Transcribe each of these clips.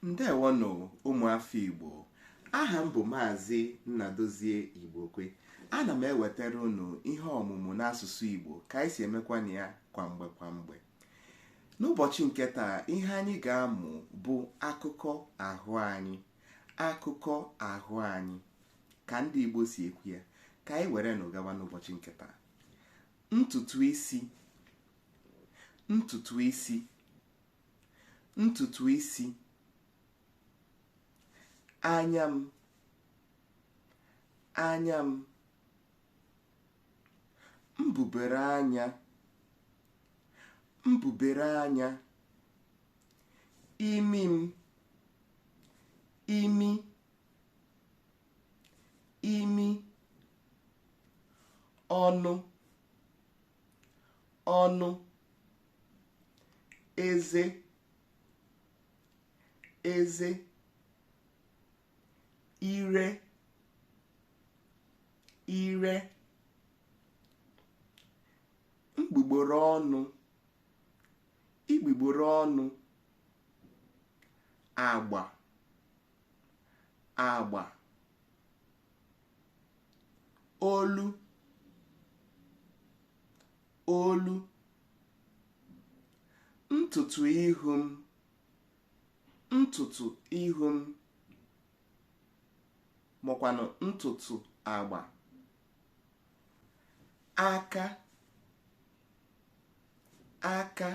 ndewonụ ụmụafọ igbo aha m bụ maazị nnadozie igbokwe ana m ewetara unu ihe ọmụmụ n'asụsụ igbo ka anyị si emekwanụ ya kwa mgbe kwa mgbe n'ụbọchị nke taa ihe anyị ga-amụ bụ akụkụ ahụ anyị akụkụ ahụ anyị ka ndị igbo si ekwu ya ka anyị were nụ gawa n'ụbọchị nke taa ntutu isi ntutu isi ntutu isi anya m anya m mbubere anya mbubere anya imi m imi imi ọnụ ọnụ eze eze ire ire mgbugboro ọnụ igbugboro ọnụ agba agba olu olu ntutu ihu m ntutu ihu m makwanụ ntutu agba aka aka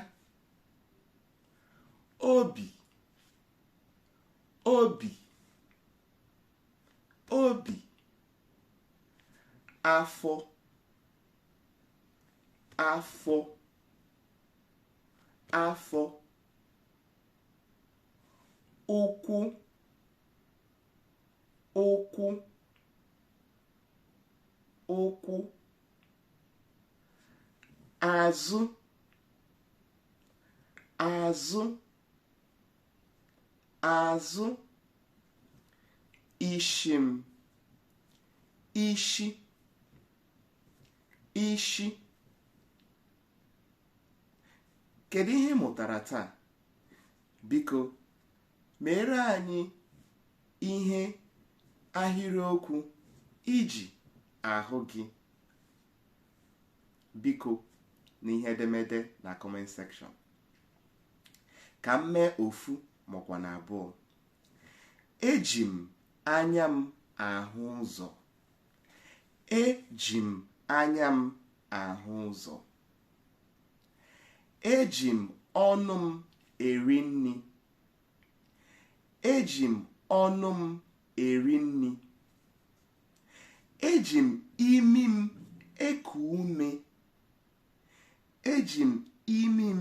obi obi obi afọ afọ afọ ụkwụ ụkwụ ụkwụ azụ azụ azụ isi m isi isi kedu ihe ị mụtara taa biko meere anyị ihe ahịrịokwu iji ahụ gị biko na ihe edemede na comment section ka m mee ofu makwa na abụọ eji m anya m ahụ ụzọ eji m anya m ahụ ụzọ eji m ọnụ m eri nri eji m ọnụ m eri nri eji m imi m eku ume eji m imi m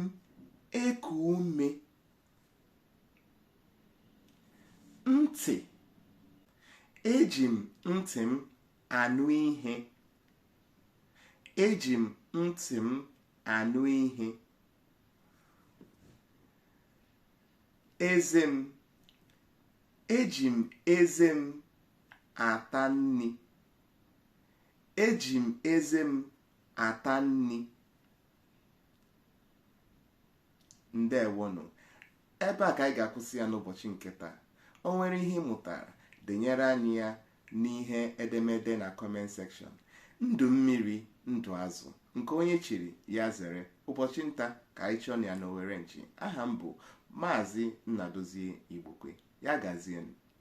eku ume ntị eji m ntị m anụ ihe eji m ntị m anụ ihe eze m eji m eze m ata nri eji m eze m ata nri ndewonụ ebe a ka anyị ga-akwụsị ya n'ụbọchị nke taa o nwere ihe ị mụtara denyere anyị ya n'ihe edemede na comment section ndụ mmiri ndụ azụ nke onye chiri ya zere ụbọchị nta ka anyị chụọnụ ya n'owere nchi aha m bụ maazị nnadozie igbokwe ya gazienụ